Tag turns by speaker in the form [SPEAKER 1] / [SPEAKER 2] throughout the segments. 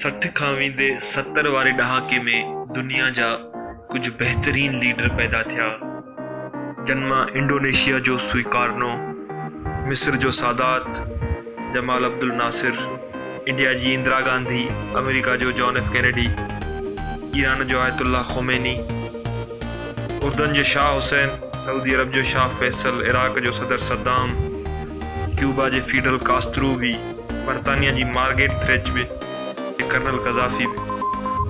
[SPEAKER 1] سٺ کان ويندي ستر واري ڏهاڪي ۾ دنيا جا ڪجهه بهترين ليڊر پيدا ٿيا جن مان انڊونيشيا جو سوئڪارنو مصر جو سادات جمال عبدالناصر، انڊيا جي اندرا گانڌي، آمريڪا جو جان ايف ڪينيڊي، ايران جو آيت الله خوميني، اردن جو شاهه حسين، سعودي عرب جو شاهه فيصل، عراق جو صدر صدام، ڪيوبا جي فيڊل ڪاسترو به، برطانيا جي مارگيٽ ٿريچ به ۽ ڪرنل قذافي به،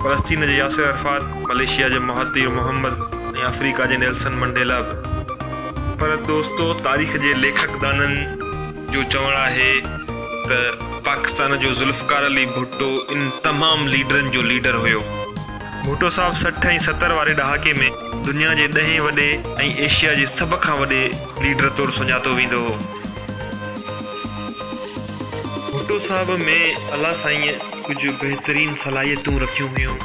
[SPEAKER 1] فلسطين جو ياسر عرفات، ملائيشيا جو مهاتير محمد ۽ آفريڪا جي نيلسن منڊيلا به پر دوستو تاريخ جي ليکڪ دانن، جو چوڻ آهي ته پاڪستان جو ذوالفقار علي ڀٽو ان تمام ليڊرن جو ليڊر هيو. ڀٽو صاحب سٺ ۽ ستر واري ڏهاڪي ۾ دنيا جي ڏهين وڏي ۽ ايشيا جي سڀ کان وڏي ليڊر طور سڃاتو ويندو هو. ڀٽو صاحب ۾ الله سائينء ڪجهه بهترين صلاحيتون رکيون هيون.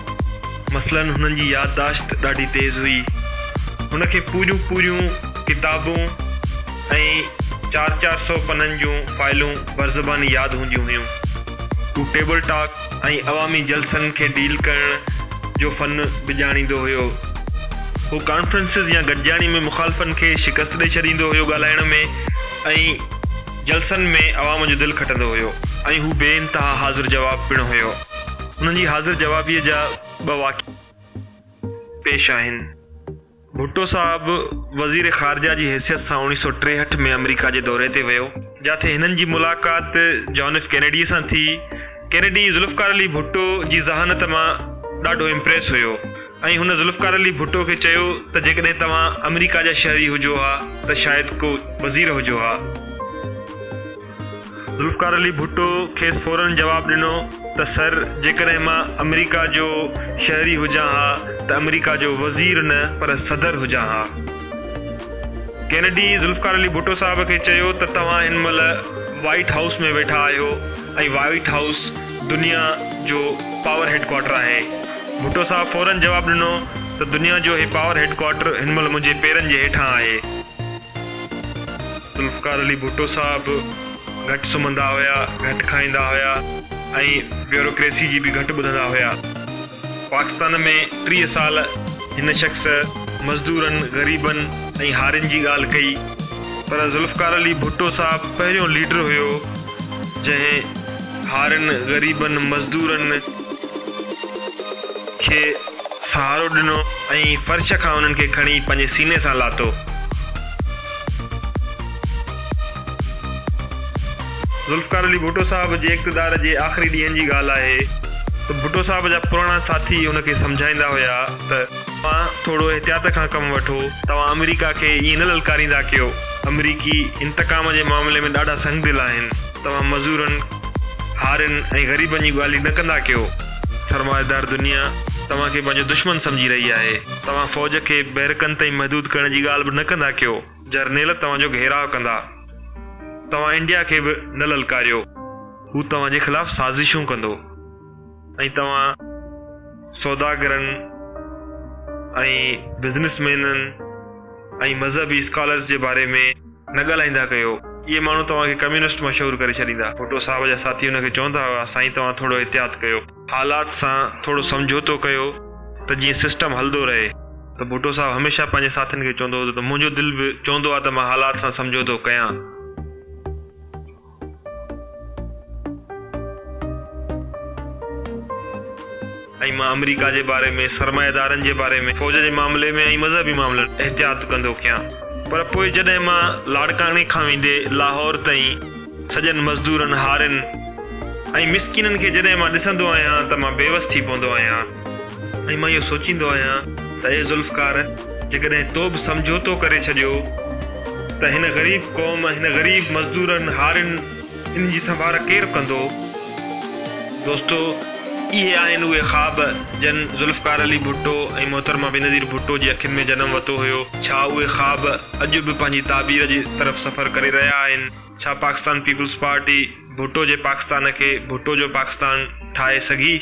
[SPEAKER 1] مثلاً هنن جي يادداشت ڏاڍي تيز هئي. هن کي پوريون پوريون ڪتابون، ۽ چار چار سؤ پنن جون فائلون برزباني ياد هونديون هيون. هو ٽيبل ٽاڪ ۽ عوامي جلسن کي ڊيل ڪرڻ جو فن به ڄاڻيندو هيو. هو ڪانفرنسز يا گڏجاڻي ۾ مخالفن کي شڪست ڏئي ڇڏيندو هيو ڳالهائڻ ۾ ۽ جلسن ۾ عوام جو دل کٽندو هيو ۽ هو بي انتها حاضر جواب پڻ هيو. هن جي حاضر جوابيء جا ٻه واقعا پيش آهن. ڀٽو صاحب وزير خارجه جي حيثيت سان اوڻيهه سؤ ٽيهٺ ۾ آمريڪا جي دوري تي ويو، جاٿي هنن جي ملاقات جان ايف ڪينيڊيء سان ٿي. ڪينيڊي ذوالفقار علي ڀٽو جي ذهانت مان ڏاڍو امپريس هيو ۽ هن ذوالفقار علي ڀٽو کي چيو ته جيڪڏهن توهان آمريڪا جا شهري هجو ها ته شايد ڪو وزير هجو ها. ذوالفقار علي ڀٽو کيس فوراً جواب ڏنو ته سر، جيڪڏهن مان آمريڪا جو شهري هجان ها ته آمريڪا جو وزير نه پر صدر هجان ها. ڪينيڊي ذوالفقار علي ڀٽو صاحب کي چيو ته توهان هن مهل وائيٽ هائوس ۾ ويٺا آهيو ۽ وائيٽ هائوس دنيا جو پاور هيڊ ڪوارٽر آهي. ڀٽو صاحب فوراً جواب ڏنو ته دنيا جو هي پاور هيڊ ڪوارٽر هن مهل منهنجي پيرن جي هيٺان آهي. ذوالفقار علي ڀٽو صاحب گهٽ سمهندا هيا، گهٽ کائيندا هيا ۽ بيوروڪريسي جي به گهٽ ٻڌندا هيا. پاڪستان ۾ ٽيهه سال هن شخص مزدورن، غريبن ۽ هارين جي ڳالهه ڪئي پر ذوالفقار علي ڀٽو صاحب پهريون ليڊر هيو جنهن هارين، غريبن، مزدورن، کي سهارو ڏنو ۽ فرش کان انهن کي کڻي پنهنجي سيني سان لاتو. ذوالفقار علي ڀٽو صاحب جي اقتدار جي آخري ڏينهن جي ڳالهه آهي ته ڀٽو صاحب جا پراڻا ساٿي هن کي سمجهائيندا هيا ته توهان ٿورو احتياط کان ڪم وٺو، توهان آمريڪا کي ائين نه للڪاريندا ڪيو، آمريڪي انتقام جي معاملي ۾ ڏاڍا سنگدل آهن، توهان مزورن، هارين ۽ غريبن جي ڳالهي نه ڪندا ڪيو. سرمائيدار دنيا توهان کي پنهنجو دشمن سمجهي رهي آهي. توهان فوج کي بيرڪن تائين محدود ڪرڻ جي ڳالهه به نه ڪندا ڪيو. جرنيل توهان جو گهيراء ڪندا. توهان انڊيا کي به نه للڪاريو. هو توهان جي خلاف سازشون ڪندو ۽ توهان سوداگرن ۽ بزنس مينن ۽ مذهبي اسڪالرس جي باري ۾ نه ڳالهائيندا ڪيو. اهي ماڻهو توهان کي ڪميونسٽ مشهور ڪري ڇڏيندا. ڀٽو صاحب جا ساٿي هن کي چوندا هئا، سائين توهان ٿورو احتياط ڪيو. حالات سان ٿورو سمجهوتو ڪيو ته جيئن سسٽم هلدو رهي. ته ڀٽو صاحب هميشه پنهنجي ساٿين کي چوندو هوندو ته منهنجو دل به چوندو آهي ته مان حالات سان سمجهوتو ڪيان. ۽ مان آمريڪا جي باري ۾ سرمائيدارن جي باري ۾ فوج جي معاملي ۾ ۽ مذهبي معاملن ۾ احتياط ڪندو ڪيان پر پوء جڏهن مان لاڙڪاڻي کان ويندي لاهور تائين سڄن مزدورن هارين ۽ مسڪينن کي جڏهن مان ڏسندو آهيان ته مان بيوس ٿي پوندو آهيان. ۽ مان اهو سوچيندو آهيان ته اي ذوالفقار! جيڪڏهن تو به سمجهوتو ڪري ڇڏيو ته هن غريب قوم، هن غريب مزدورن، هارين، انهن جي سنڀار ڪير ڪندو؟ دوستو! اهي آهن اهي خواب جن ذوالفقار علي ڀٽو ۽ محترمه بينظير ڀٽو جي اکين ۾ جنم وتو هيو. ڇا اهي خواب اڄ به پنهنجي تعبير جي طرف سفر ڪري رهيا آهن؟ ڇا پاڪستان پيپلز پارٽي ڀٽو جي پاڪستان کي ڀٽو جو پاڪستان ٺاهي سگهي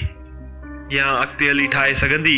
[SPEAKER 1] يا اڳتي هلي ٺاهي سگهندي؟